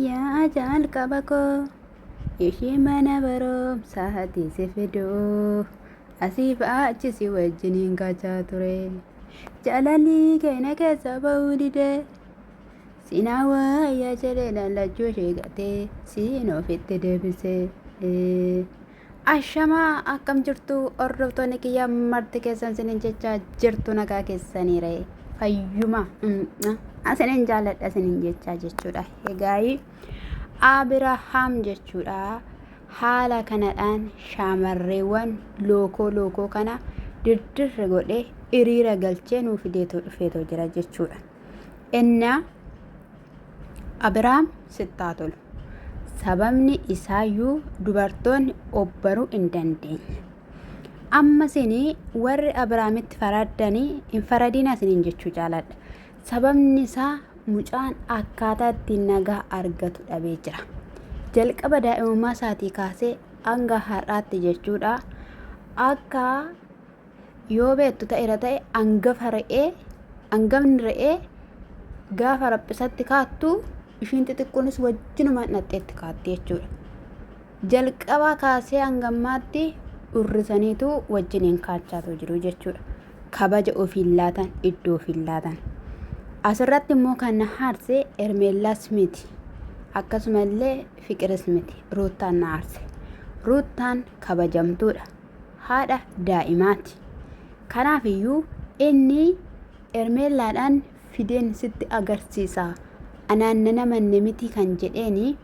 Yaa ajaal qaba koo ishii mana barumsaati si fiduu asiif achi si wajjiniin gachaa ture jaalalii keenya keessa ba'uu didee sinaa waayyaa jedhee lallachuu ishee gatee siin ofitti deebisee Ashamaa akkam jirtu hordoftoonni kiyya marti keessan sinin jecha jirtu nagaa keessaniire fayyuma asinin jaaladha sinin jecha jechuudha egaayii Abirahaam jechuudha haala kanadhaan shaamarreewwan lookoo lookoo kana dirdirri godhe hiriira galchee nuuf fideetoo dhufeetoo jira jechuudha. Innaa Abiraam sitti haa tolu. Sababni isaayyuu dubartoonni obbaruu hin dandeenye. Amma sini warri Abiraamitti faraddanii hin faradiin asiniin jechuu jaaladha. Sababni isaa mucaan akkaataa ittiin nagaa argatu dhabee jira. Jalqaba daa'imummaa isaatii kaasee hanga har'aatti jechuudha. Akka Yoo beektu ta'era ta'e angafa re'ee angafni re'ee gaafa raphisatti kaattu ishiin xixiqqoonis wajjinuma hidhatteetti kaatti jechuudha. Jalqabaa kaasee hangammaatti urrisaniitu wajjiniin kaachaatu jiru jechuudha. Kabaja ofiin laatan iddoo ofiin laatan. Asirratti immoo kan na haarse Ermeellaas miti. Akkasumallee Fiqiris miti. Ruuttaan na haarse. Ruuttaan kabajamtuudha. haadha daa'imaati. Kanaafiyyuu inni Ermeellaadhaan fideen sitti agarsiisa. Anaan nan amanne miti kan jedheeni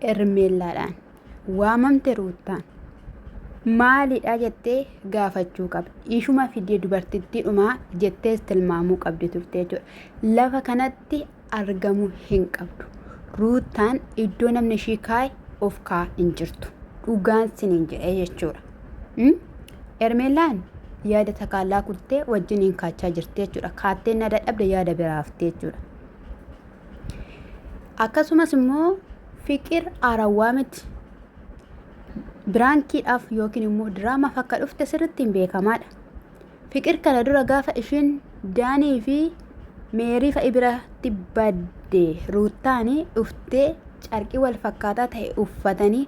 Ermeellaadhaan. Waamamte Ruuttaan. Maalidha jettee gaafachuu qabdi. Ishuma fidee dubartittiidhuma jettees tilmaamuu qabdi turte jechuudha. Lafa kanatti argamu hin qabdu. Ruuttaan iddoo namni ishii kaa'e of kaa'aa hin jirtu. Dhugaan siniin jedhee jechuudha. Ermeellaan yaada takaallaa kuttee wajjin hin kaachaa jirti jechuudha. Kaatteen na dadhabde yaada biraa haftee jechuudha. Akkasumas immoo fiqir arawwaa miti. Biraankiidhaaf yookiin immoo diraamaaf akka dhufte sirriitti hin beekamaadha. Fiqir kana dura gaafa ishiin Daanii fi Meerii fa'i biratti badde Ruuttaani dhuftee carqii wal fakkaataa ta'e uffatanii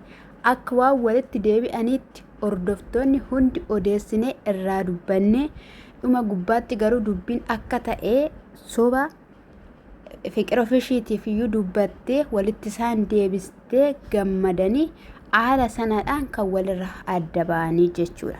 akka waan walitti deebi'aniitti hordoftoonni hundi odeessinee irraa dubbanne dhuma gubbaatti garuu dubbiin akka ta'e soba fiqir ofishiitiif iyyuu dubbattee walitti isaan deebistee gammadanii haala sanadhaan kan walirra adda ba'anii jechuudha.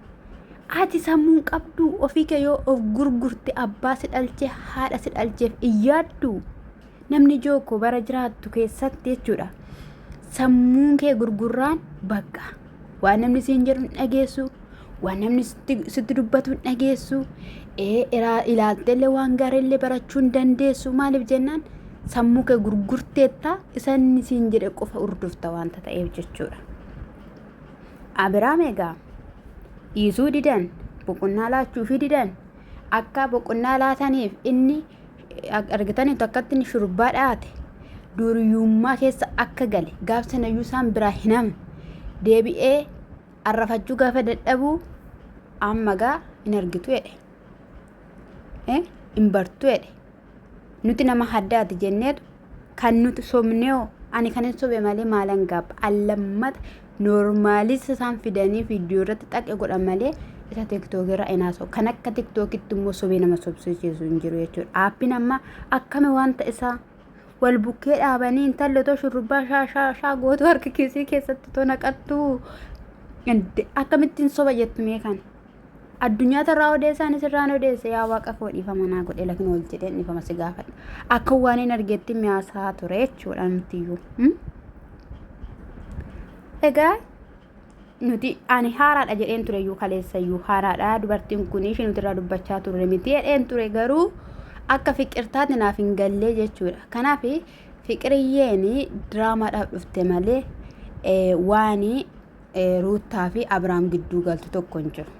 Ati sammuun qabduu ofii kee yoo of gurgurte abbaa si dhalche haadha si dhalcheef iyyaaddu namni jooko bara jiraattu keessatti jechuudha. Sammuun kee gurgurraan bakka waan namni siin jedhu hin dhageessu waan namni sitti, sitti dubbatu hin dhageessu ee iraa- ilaalteellee waan gaariillee barachuu hin dandeessu maaliif jennaan sammuu kee gurgurteetta isa inni siin jedhe qofa hordofta waanta ta'eef jechuudha. Abiraam egaa dhiisuu didan boqonnaa laachuufii didan akka boqonnaa laataniif inni argitanii takkatti inni shurbaa dhaate duuriyummaa keessa akka gale gaaf sanayyuu isaan biraa hin hamu deebi'ee arrafachuu gaafa dadhabuu amma gaa hin argitu jedhe hin bartu jedhe Nuti nama haddaati jenneetu kan nuti sobneeho ani kan hin sobe malee maalan gaabba allammata noormaalis isaan fidanii viidiyoo irratti xaqe godha malee isa tiktookii irraa hin haasa'u kan akka tiktookitti immoo sobee nama sobsiisu hin jiru jechuudha aappiin amma akkami wanta isaa wal bukkee dhaabanii intalli otoo shurrubbaa shaa shaa shaa gootuu harka kiisii keessatti otoo naqattuu akkamittiin soba jettu mee kana. Addunyaa tarraa odeessaan isirraan odeesse yaa waaqa koo dhiifama naa godhe lakin ol jedheen dhiifama si gaafadha. Akka waan hin argeetti miyaasaa ture jechuudha nutiyyuu. Hmm? Egaa nuti ani haaraadha jedheen ture iyyuu kaleessa iyyuu haaraadha dubartiin kun ishee nuti irraa dubbachaa turre miti jedheen ture garuu akka fiqirtaatti naaf hin gallee jechuudha. Kanaaf fiqiriyyeen diraamaadhaaf dhufte malee eh, waan Ruuttaa fi Abiraam gidduu galtu tokko hin jiru.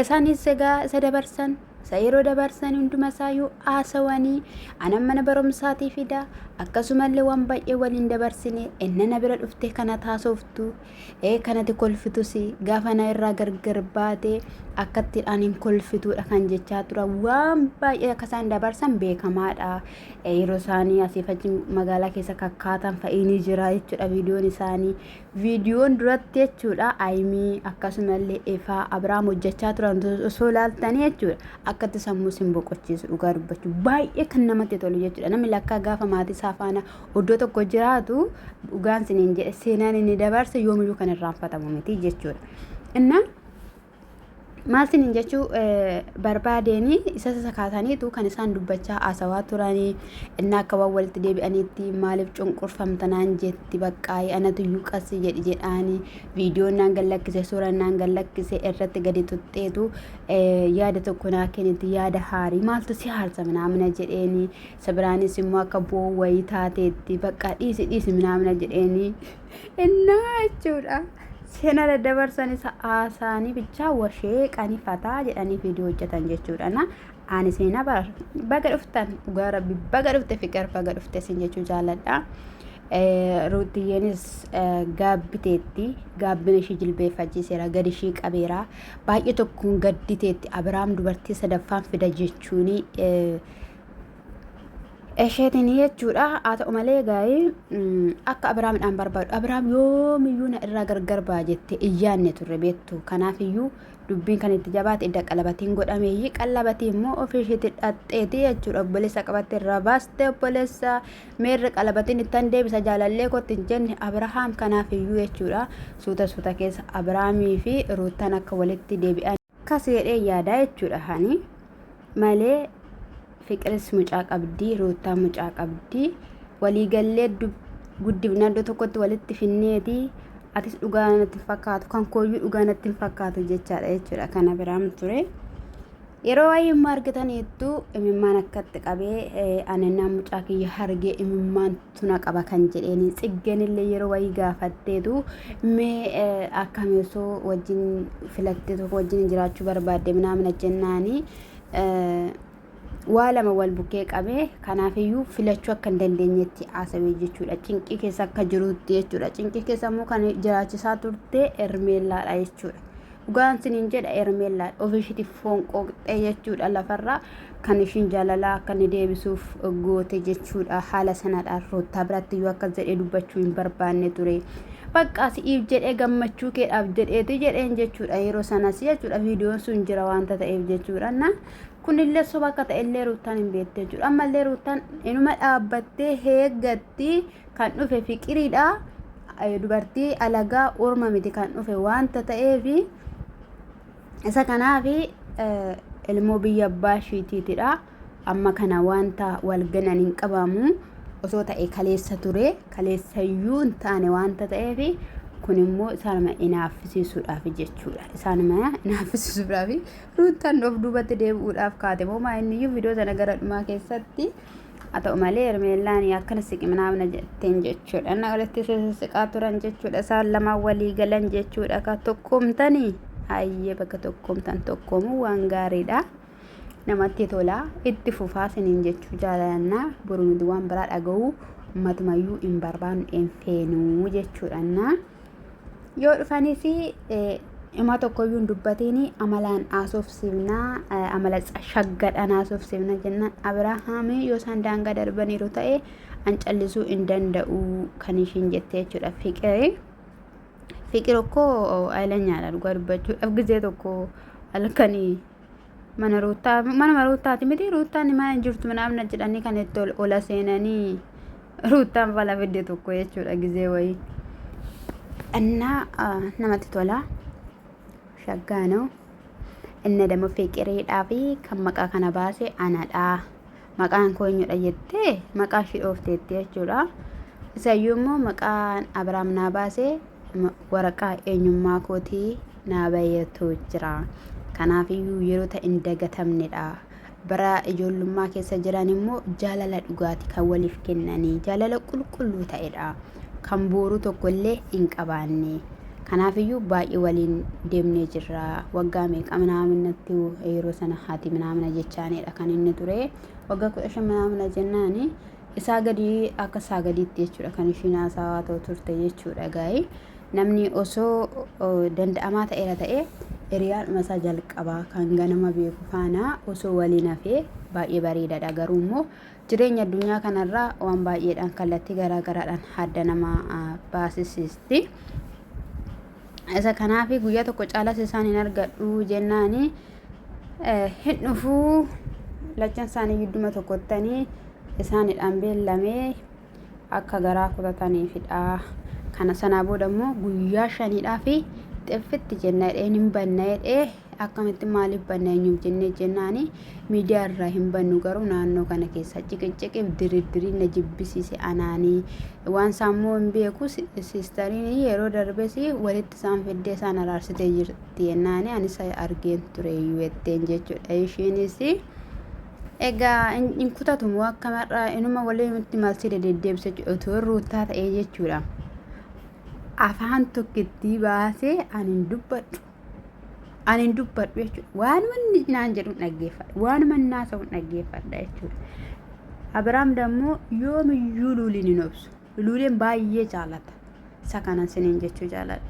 Isaanis egaa isa dabarsan, isa yeroo dabarsan hunduma isaayyuu haasawanii anan mana barumsaatii fida akkasumallee waan baay'ee waliin dabarsine inni na bira dhuftee kana taasoftu ee kanati kolfitus gaafa na irraa gargar baate akkatti ani hin kolfituudha kan jechaa tura waan baay'ee akka isaan dabarsan beekamaadha yeroo isaanii asiif achi magaalaa keessa kakkaatan fa'iinii jira jechuudha viidiyoon isaanii Viidiyoon duratti jechuudha Ayimii akkasumallee Efaa Abiraam hojjechaa turan osoo ilaaltanii jechuudha akkatti sammuu sin boqochiisu dhugaa dubbachuu baay'ee kan namatti tolu jechuudha namni lakkaa gaafa maatii isaa faana iddoo tokko jiraatu dhugaan siniin jedhe seenaan inni dabarse yoomiyyuu kan irraanfatamu miti jechuudha. Innaa Maal sinin jechuu barbaadeenii isa sakaataniitu kan isaan dubbachaa haasawaa turanii inni akka waan walitti deebi'aniitti maaliif cunqurfamta naan jetti baqqaayi anatu iyyuu qassi jedhi jedhaanii viidiyoon naan gad lakkise suuraan naan gad lakkise irratti gadi tuxxeetu yaada tokko naa kenniti yaada haarii maaltu si haarsa minaamina jedheenii isa biraanis immoo akka bu'oo wayii taateetti baqqaa dhiisi dhiisi minaamina jedheenii. innaa jechuudha seenaa daddabarsan isa haasaanii bichaa washeeqanii fataa jedhanii viidiyoo hojjetan jechuudha na ani seenaa bar baga dhuftan dhugaa rabbi baga dhufte fiqar baga dhufte sin jechuu jaaladha ruutiyyeenis gaabbiteetti gaabbina ishii jilbeeffachiiseera gadi ishii qabeera baay'ee tokkoon gadditeetti abiraam dubartii sadaffaan fida jechuuni isheetiin jechuudha haa ta'u malee gaa'ee akka abiraamidhaan barbaadu abiraam yoomiyyuu na irraa gargar ba'a jette iyyaanne turre beektu kanaafiyyuu dubbiin kan itti jabaate idda qalabatiin godhameeyyi qalabatii immoo ofii isheetti dhaxxeeti jechuudha obboleessa qabatte irraa baaste obboleessa meerri qalabatiin ittan deebisa jaalallee kootti hin jenne abirahaam kanaafiyyuu jechuudha suuta suuta keessa abiraamii fi ruuttan akka walitti deebi'an Akkas jedhee yaadaa jechuudha hani malee fiqiris mucaa qabdii ruuttaa mucaa qabdii waliigallee guddifna iddoo tokkotti walitti finneeti atis dhugaa natti hin fakkaatu kan kooyyuu dhugaa natti hin fakkaatu jechaadha jechuudha kana biraan ture. Yeroo waa'ee immoo argitaniittu imimmaan akkatti qabee ani naan mucaa kiyya hargee imimmaan tuna qaba kan jedheeni tsiggen illee yeroo wayii gaafatteetu mee akkami osoo wajjin filattee tokko wajjin jiraachuu barbaadde minaamina jennaani waa lama wal bukkee qabe kanaafiyyuu filachuu akka hin dandeenyetti haasawee jechuudha cinqii keessa akka jiruutti jechuudha cinqii keessa immoo kan jiraachisaa turte ermeellaadha jechuudha Dhugaan sinin jedha Hermeellaan ofishiitiif foon qooqxee jechuudha lafarraa kan ishiin jaalalaa akka inni deebisuuf goote jechuudha haala sanadhaan roottaa biratti iyyuu akkas jedhee dubbachuu hin barbaanne ture. Baqqaa si'iif jedhee gammachuu keedhaaf jedheeti jedheen jechuudha yeroo sanas jechuudha viidiyoon sun jira waanta ta'eef jechuudha na kunillee soba akka ta'ellee ruuttaan hin beekte jechuudha ammallee ruuttaan inuma dhaabbattee heeggatti kan dhufe fiqiridha dubartii alagaa orma miti kan dhufe wanta ta'eef isa kanaaf ilmoo biyya abbaa ishiitiitidha amma kana wanta wal ganan hin qabamu osoo ta'e kaleessa ture kaleessayyuu hin taane wanta ta'eef kun immoo isaanuma inaaffisiisuudhaaf jechuudha isaanuma inaaffisiisuudhaaf ruuttan of duubatti deebi'uudhaaf kaate moo maa inniyyuu viidiyoo sana gara dhumaa keessatti Haa ta'u malee Hermeellaan akkana siqi minaa na jetteen jechuudha. Na walitti siqaa turan jechuudha. Isaan lama walii galan jechuudha. Ka tokkoomtanii hayyee bakka tokkoomtan tokkoomuu waan gaariidha. Namatti tola. Itti fufaa siniin jechuu jaalannaa. Boruu nuti waan biraa dhaga'uu matumayyuu hin barbaannu hin feenuu jechuudha. yoo dhufanii fi himaa tokkoyyuu hin dubbatiin amalaan haasofsiifna amala shaggadhaan haasofsiifna jennaan abirahaamii yoo isaan daangaa darbaniiru ta'e an callisuu hin danda'u kan ishiin jettee jechuudha fiqiri fiqir okkoo aylanyaadha dhugaa dubbachuudhaaf gizee tokko halkanii mana ruuttaa manuma ruuttaati miti ruuttaan mana hin jirtu naamna jedhanii kan itti ol ola seenanii ruuttaan fala fidde tokko jechuudha gizee wayii innaa ah, namatti tola shaggaa noo inni dammoo fiqiriidhaa fi kan maqaa kana baase anadhaa Maqaan koo eenyudha jettee maqaa ishii dhoofteetti jechuudha. Isayyuu immoo maqaan Abiraam naa baase ma- waraqaa eenyummaa kootii naa baheetu jira. Kanaafiyyuu yeroota hin dagatamnedha. Bara ijoollummaa keessa jiran immoo jaalala dhugaati kan waliif kennanii jaalala qulqulluu ta'edha. kan bu'uuru tokko illee hin qabaanne. Kanaaf iyyuu baay'ee waliin deemnee jirra. Waggaa meeqa minaaminatti yeroo sana haati minaamina jechaanidha kan inni ture. Waggaa kudha shan minaamina jennaan isaa gadii akka isaa gadiitti jechuudha kan ishiin haasawaa ta'u turte jechuudha gaa'ee. Namni osoo danda'amaa ta'eera ta'ee hiriyaadhuma isaa jalqabaa kan ganama beeku faana osoo waliin hafee baay'ee bareedaadha garuu immoo Jireenyi addunyaa kanarraa waan baay'eedhaan kallattii garaa garaadhaan hadda nama baasisiisti. Isa kanaaf guyyaa tokko caalas isaan hin argadhu jennaan hin dhufuu lachan isaanii gidduma tokkottanii isaanidhaan beellamee akka garaa kutataniifidha. Kana sanaa booda immoo guyyaa shaniidhaa fi xiffitti jenna jedhee hin banna jedhee akkamitti maaliif banna eenyuuf jennee jennaan miidiyaa irraa hin bannu garuu naannoo kana keessa ciqiciqiif diriirdiriin na jibbisiise anaanii waan saammoo hin beeku siistariin yeroo darbes walitti isaan fiddee isaan araarsitee jirti jennaan anis argeen ture jetteen jechuudha ishiinis egaa hin kutatumu akka mar'aa inuma walitti malsii deddeebisa otoo ruutaa ta'ee jechuudha afaan tokkittii baasee ani hin dubbadhu Ani hin dubbadhu jechuudha. Waanuma inni naan jedhu hin dhaggeeffadha. Waanuma inni haasa'u hin dhaggeeffadha jechuudha. Abiraam dammoo yoomiyyuu luuliin hin obsu. Luuleen baay'ee jaalata. Isa kanan siniin jechuu jaaladha.